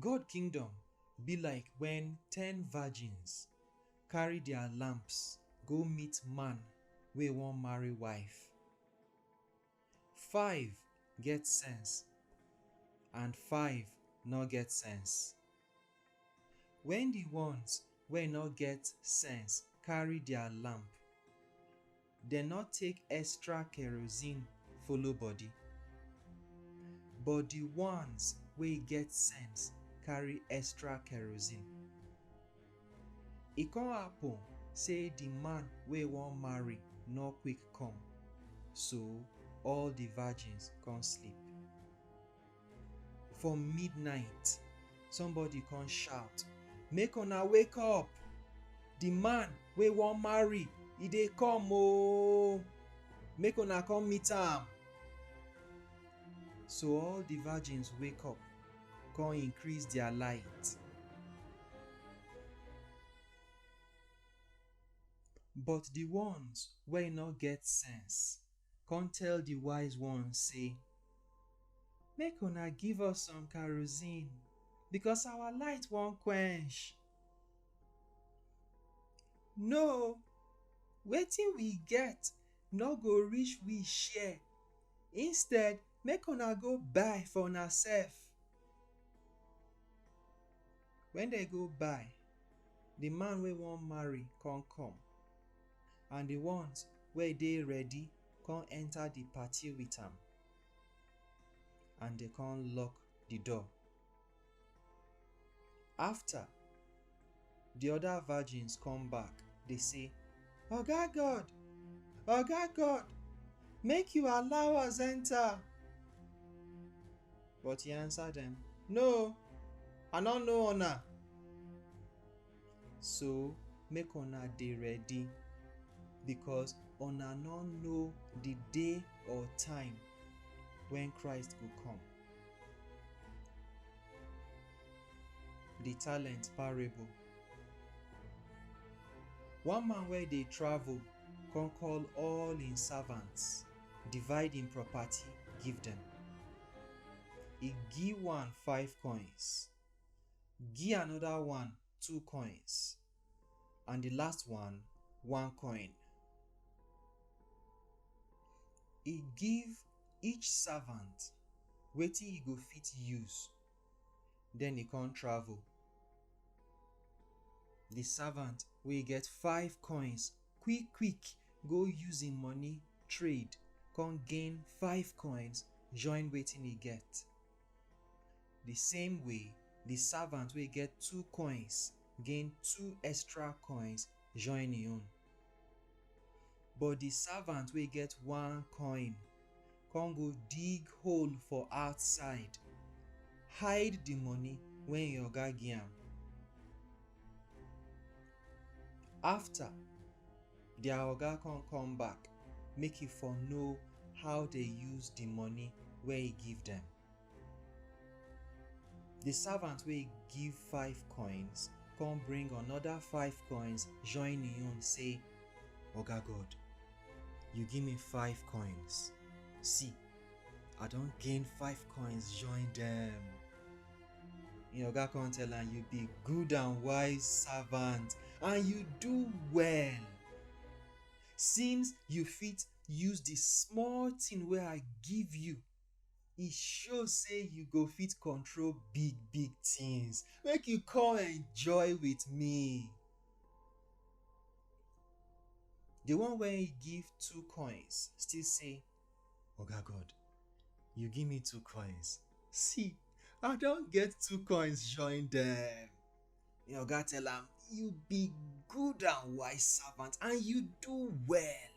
God kingdom be like when ten virgins carry their lamps go meet man wey wan marry wife. Five get sense and five no get sense. Wen di ones wey nor get sense karry dia lamp, dem nor take extra kerosene follow body, but di ones wey get sense karry extra kerosene. E kon happen sey di man wey won marry nor quick kom, so all di virgins kon sleep. For midnight, somebody come shout, Make una wake up! The man wey wan marry, e dey come oo! Make una come meet am! So all the virgins wake up, come increase their light. But the ones wey no get sense, come tell the wise ones say, Make una give us some kerosene because our light wan quench. No, wetin we get no go reach we share. Instead, make una go buy for una sef. When they go buy, the man wey wan marry come come. and di ones wey dey ready come enter di party with am and dey come lock di door. After, di other virgins come back dey say, Oga God, Oga God, make you allow us enter. But he answer dem, No, I no know una. So make una dey ready because una no know the day or time when Christ go come. The talent parable. One man wey dey travel come call all im servants, divide im property give dem. E give one five coins, Gi anoda one two coins and di last one one coin. E give each servant wetin e go fit use, den e kon travel. Di servant wey get five coins quick-quick go use im money trade kon gain five coins join wetin e get. Di same way, di savant wey get two koins gain two extra koins join im own. But di savant wey get one koin kon go dig hole for outside, hide di moni wey im oga gi am. after their oga come come back make e for know how they use the money wey he give them. The servant wey give five coins come bring another five coins join him own say, Oga God, you give me five coins. See, I don gain five coins join them. Im oga come tell am, You be good and wise servant, and you do well. Since you fit use the small thing wey I give you, e show say you go fit control big big things. Make you come enjoy with me. The one wey he give two coins still say, Oga God, you give me two coins. See, I don't get two coins, join them. Your God tell him, You be good and wise servant, and you do well.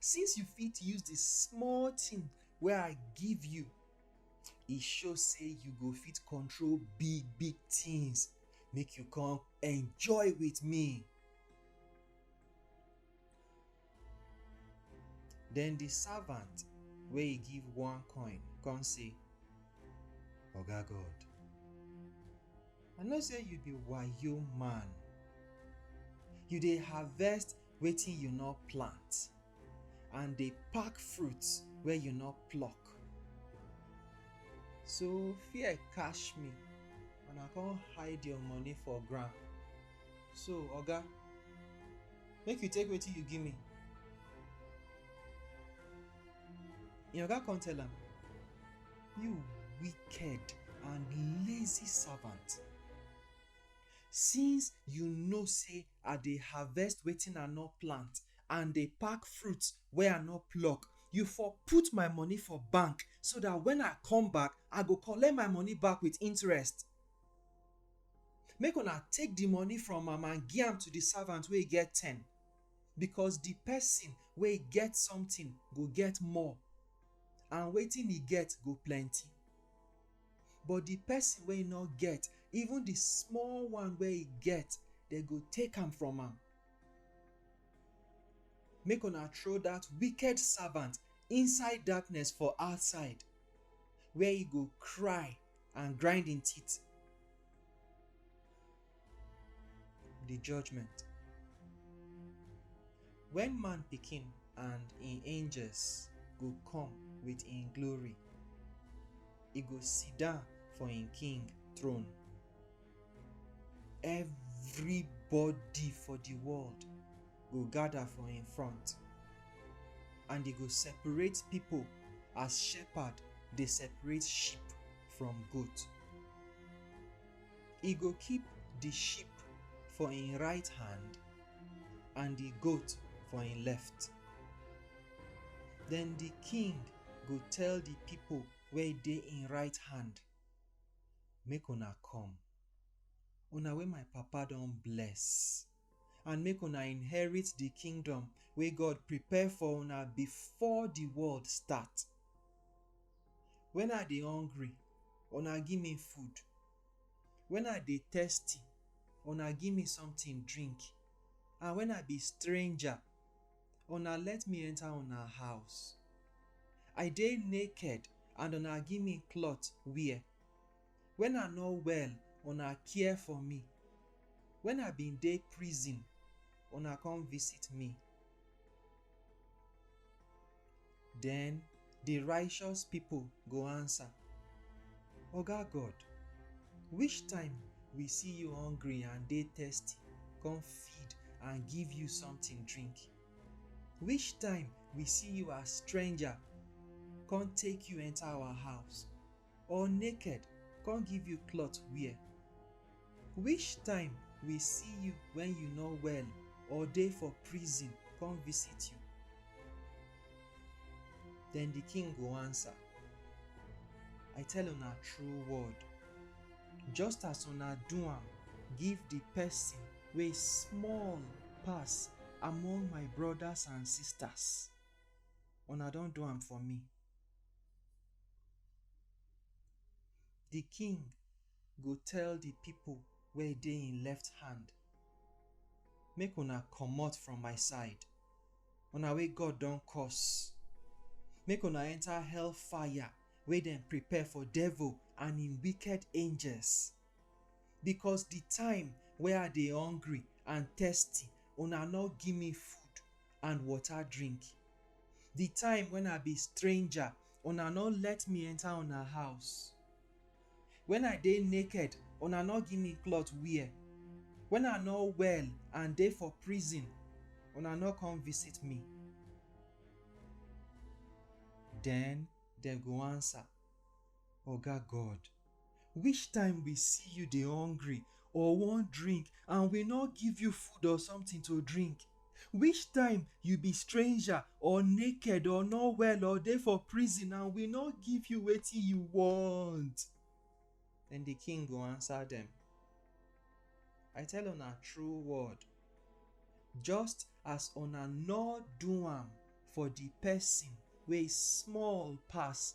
Since you fit use the small thing where I give you, it show say you go fit control big, big things. Make you come enjoy with me. Then the servant wey he give one coin come say, Oga God, I know say you be wayo man. You dey harvest wetin you no plant and dey pack fruit wey you no pluck. So fear catch me and I come hide your money for ground. So oga, Make you take wetin you give me. Your oga come tell am, You wicked and lazy servant. Since you know say I dey harvest wetin I no plant and dey pack fruit wey I no pluck, you for put my money for bank so dat wen I come back, I go collect my money back with interest. Make una take di money from am and gi am to di savant wey get ten, bikos di pesin wey get somtin go get more, and wetin e get go plenty. But di pesin wey nor get, even di small one wey e get, dem go take am from am. Make una throw dat wicked savant inside darkness for outside, where e go kry and grind im teeth. The judgment. When man pikin and im angels go come with im glory, e go sit down for im king throne. Everybody for the world go gather for him front, and he go separate people as shepherd dey separate sheep from goat. He go keep the sheep for him right hand and the goat for him left. Then the king go tell the people wey dey in right hand, Make una come, una wey my papa don bless. and make una inherit di kingdom wey God prepare for una before di world start. Wen I dey hungry, una give me food, wen I dey thirsty, una give me something drink, and wen I be stranger, una let me enter una house. I dey naked and una give me cloth wear. Wen I nor well, una care for mi, wen I bin dey prizin, una kon visit mi. Den di rayshos pipol go ansa, Oga God, wish time wi si yu hongri and dey testi kon feed and give yu somtin drink? Wish time wi si yu as strenja kon take yu enta awa house? or naked come give you cloth wear? Which time we see you when you no well or dey for prison come visit you? Then the king go answer, I tell una true word, just as una do am give the person wey small pass among my brothers and sisters, una don do am for me. Di king go tell di pipo wey dey im left hand, Make una comot from my side, una wey God don curse! Make una enta hell fire wey dem prepare for devil and im wicked angels! Becos di time wey I dey hungry and thirsty, una no give me food, and water drink. The time when I be stranger, una no let me enter una house. When I dey naked, una no give me cloth wear. When I no well and dey for prison, una no come visit me. Then dem go answer. Oga God, which time we see you dey hungry or wan drink and we no give you food or something to drink? Which time you be stranger or naked or no well or dey for prison and we no give you wetin you want? Then the king go answer them, I tell una true word, just as una no do am for the person wey small pass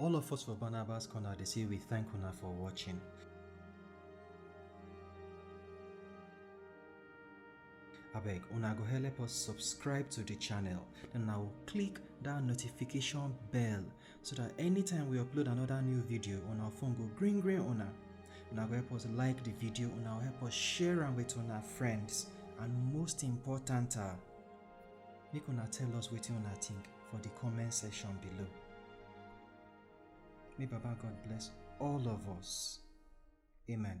All of us for Barnabas Corner, they say we thank Una for watching. abeg una go help us subscribe to the channel and now click that notification bell so that anytime we upload another new video on our phone go green green una una go help us like the video una help us share am with our friends and most important uh, Make una tell us wetin una think for the comment section below. May Baba God bless all of us. Amen.